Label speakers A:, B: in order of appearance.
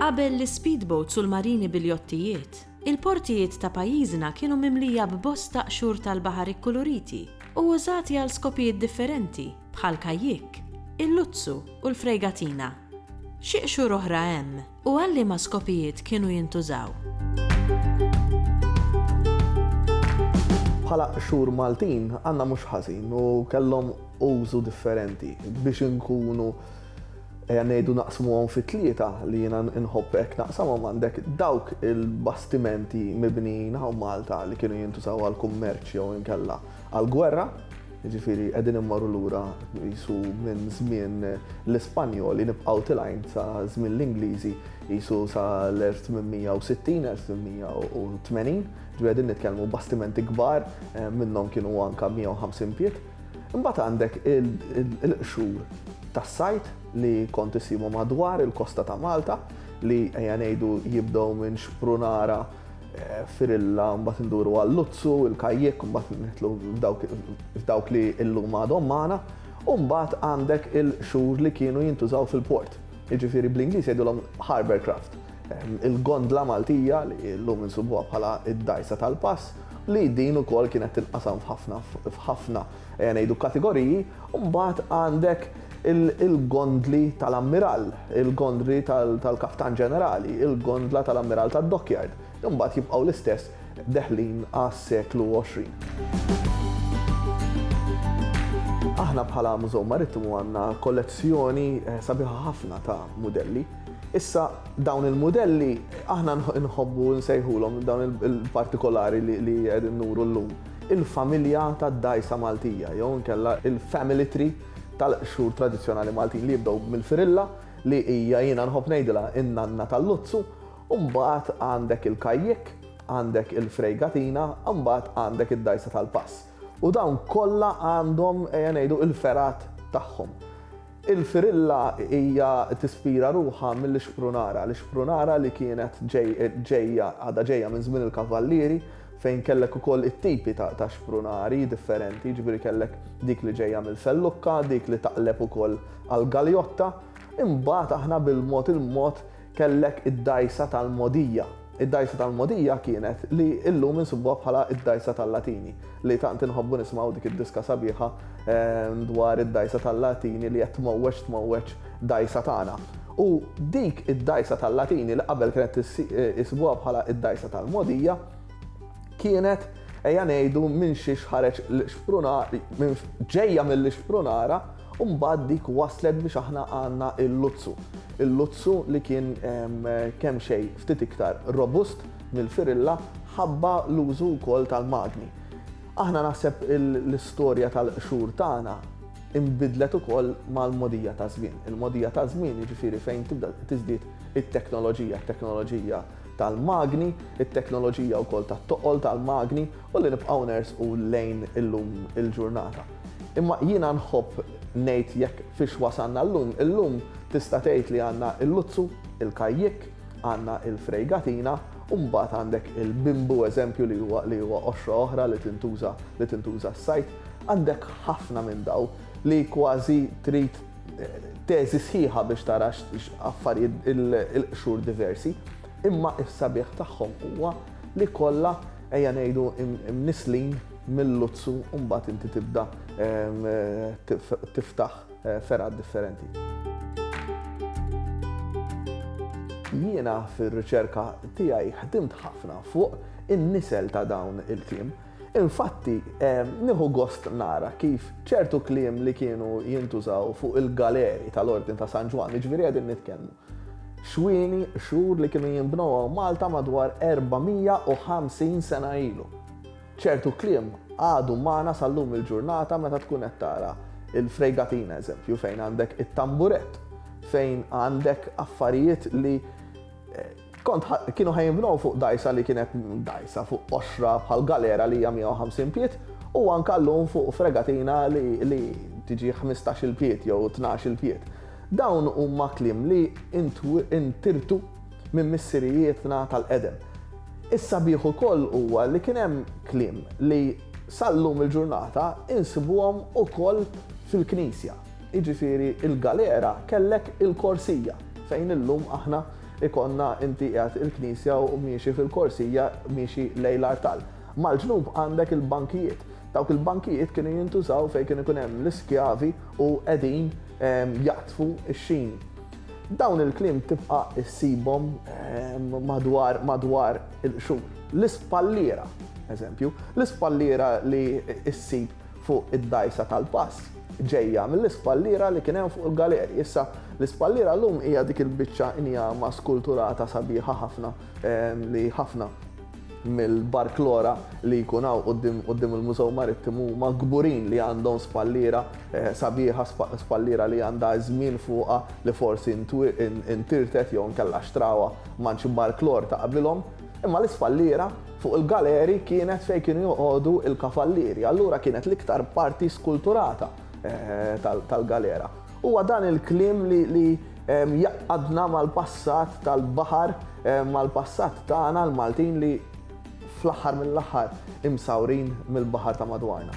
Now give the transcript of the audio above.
A: Qabel l-ispeedboats u l-marini bil-jottijiet, il-portijiet ta' pajjiżna kienu mimlija b'bosta qxur tal-baħar ikkuluriti u użati għal skopijiet differenti, bħal kajjikk, il-luzzu u l-frejgatina. Xi qxur oħra hemm u għal liema skopijiet kienu jintużaw? Bħala qxur Maltin għandna mhux ħażin u kellhom użu differenti biex inkunu ejja ngħidu naqsmuhom fi tlieta li jiena nħobb hekk naqsamhom għandek dawk il-bastimenti mibnijin hawn Malta li kienu jintużaw għall-kummerċ jew inkella għall-gwerra Jiġifieri qegħdin immorru lura qisu minn żmien l-Ispanjoli nibqgħu tilgħin sa żmien l-Ingliżi qisu sa l-1860, 1880, ġifieri qegħdin nitkellmu bastimenti kbar minnhom kienu anke 150 pied. Imbagħad għandek il-qxur tas-sajd li kont issibhom madwar il-kosta ta' Malta li ejja ngħidu jibdew minn xprunara Firilla, mbagħad induru għal Luzzu, il-Kajjek, mbagħad nitlu f'dawk li illum għadhom magħna, u mbagħad għandek il-xhur li kienu jintużaw fil-port. Jiġifieri bl-Ingliż jgħidulhom harbour craft. Il-gondla Maltija li llum insubuha bħala d-dgħajsa tal-pass li din ukoll kienet tinqasam f'ħafna f'ħafna ejja ngħidu kategoriji, u mbagħad għandek il-gondli tal-ammirall, il-gondli tal-kaptan ġenerali, il-gondla tal-ammirall tad-dockyard, li mbagħad jibqgħu l-istess deħlin għas-seklu 20. Aħna bħala Mużew Marittimu għandna kollezzjoni eh, sabiħa ħafna ta' mudelli. Issa dawn il-mudelli aħna nħobbu nsejħulhom dawn il-partikolari li qegħdin nuru llum. il-familja tad-dgħajsa Maltija jew inkella il-family tree tal-qxur tradizzjonali Maltin li jibdew mill-firilla li hija jiena nħobb ngħidilha in-nanna tal-luzzu u mbagħad għandek il-kajjikk, għandek il-frejgatina u mbagħad għandek id-dgħajsa tal-pass. U dawn kollha għandhom, ejja ngħidu, il-fergħat tagħhom. Il-firilla hija tispira ruħha mill-ixprunara, l-ixprunara li kienet ġejja, għadha ġejja minn żmien il-kavallieri fejn kellek ukoll it-tipi ta' xprunari differenti, jiġifieri kellek dik li ġejja mill-fellukka, dik li taqleb ukoll għall-galjotta. Imbagħad aħna bil-mod il-mod Kellek id-dgħajsa tal-mogħdija. Id-dgħajsa tal-mogħdija kienet li illum insibuha bħala id-dgħajsa tal-Latini, li tant inħobbu nismgħu dik id-diska sabiħa dwar id-dgħajsa tal-Latini li qed tmowweġ tmowweġ dgħajsa tagħna. U dik id-dgħajsa tal-Latini li qabel kienet isibuha bħala id-dgħajsa tal-mogħdija, kienet ejja ngħidu minn xi ħareġ l-xprunara ġejja mill-xprunara u mbagħad dik waslet biex aħna għandna l-luzzu. Il-luzzu li kien kemm xejn ftit iktar robust mill-firilla ħabba l-użu wkoll tal-magni. Aħna naħseb l-istorja tal-qxur tagħna imbidlet ukoll mal-mogħdija taż-żmien. Il-mogħdija taż-żmien jiġifieri fejn tibda tiżdied it-teknoloġija, it-teknoloġija tal-magni, it-teknoloġija wkoll tat-toqol tal-magni u li nibqgħu nersqu lejn illum il-ġurnata. Imma jiena nħobb ngħid jekk fiex wasalna llum, illum tista' tgħid li għandna l-luzzu, il-kajjikk, għandna l-frejgatina u mbagħad għandek il-bimbu eżempju li huwa li huwa qoxra oħra li tintuża li tintuża s-sajd. Għandek ħafna minn dawn li kważi trid Teżi sħiħa biex tara x'affarijiet il-qxur diversi, imma s-sabiħ tagħhom huwa li kollha, ejja ngħidu, imnisslin mil-luzzu u mbagħad inti tibda tiftaħ fergħat differenti. Jiena fir-riċerka tiegħi ħdimt ħafna fuq in-nisel ta' dawn il-kliem. Infatti, nieħu gost nara kif ċertu kliem li kienu jintużaw fuq il-galeri tal-Ordni ta' San Ġwann, jiġifieri qegħdin nitkellmu xwieni, xhur li kienu jinbnew hawn Malta madwar 450 sena ilu. ċertu kliem għadu magħna sal-lum il-ġurnata meta tkun qed tara il-fregatina eżempju fejn għandek it-tamburett, fejn għandek affarijiet li Kont kienu ħa jinbnew fuq dgħajsa li kienet dgħajsa fuq qoxra bħal galera li hija 150 pied u anke llum fuq fregatina li tiġi 15-il pied jew 12-il pied. Dawn huma kliem li ntirtu minn missirijietna tal-qedem. Is-sabiħ ukoll huwa li kien hemm kliem li sal-lum il-ġurnata insibuhom ukoll fil-knisja. Jiġifieri l-galera kellek il-korsija fejn illum aħna ikollna inti qiegħed il-knisja u miexi fil-korsija miexi lejn l-artal. Mal-ġnub għandek il-bankijiet. Dawk il-bankijiet kienu jintużaw fejn kien ikun hemm l-iskjavi u qegħdin ehm, jaqtfu x-xini. Dawn il-kliem tibqa' issibhom ehm, madwar madwar il-qxur. L-ispalliera, eżempju, l-ispalliera li issib fuq id-dgħajsa tal-pass, ġejja mill-ispalliera li kien hemm fuq il-galeri. Issa, l-ispalliera llum hija dik il-biċċa injama skulturata sabiħa ħafna li ħafna mill-barklora li jkun hawn quddiem quddiem il-Mużew Marittimu huma kburin li għandhom spalliera sabiħa, spalliera li għandha ż-żmien fuqha li forsi ntirtet jew inkella xtrawha mant xi barklor ta' qabilhom. Imma l-ispalliera Fuq il-galeri kienet fejn kienu joqogħdu l-kavallieri, allura kienet l-iktar parti skulturata tal-galera. Huwa dan il-kliem li jgħaqqadna mal-passat tal-baħar, mal-passat tagħna l-Maltin li fl-aħħar mill-aħħar imsawrin mill-baħar ta' madwarna.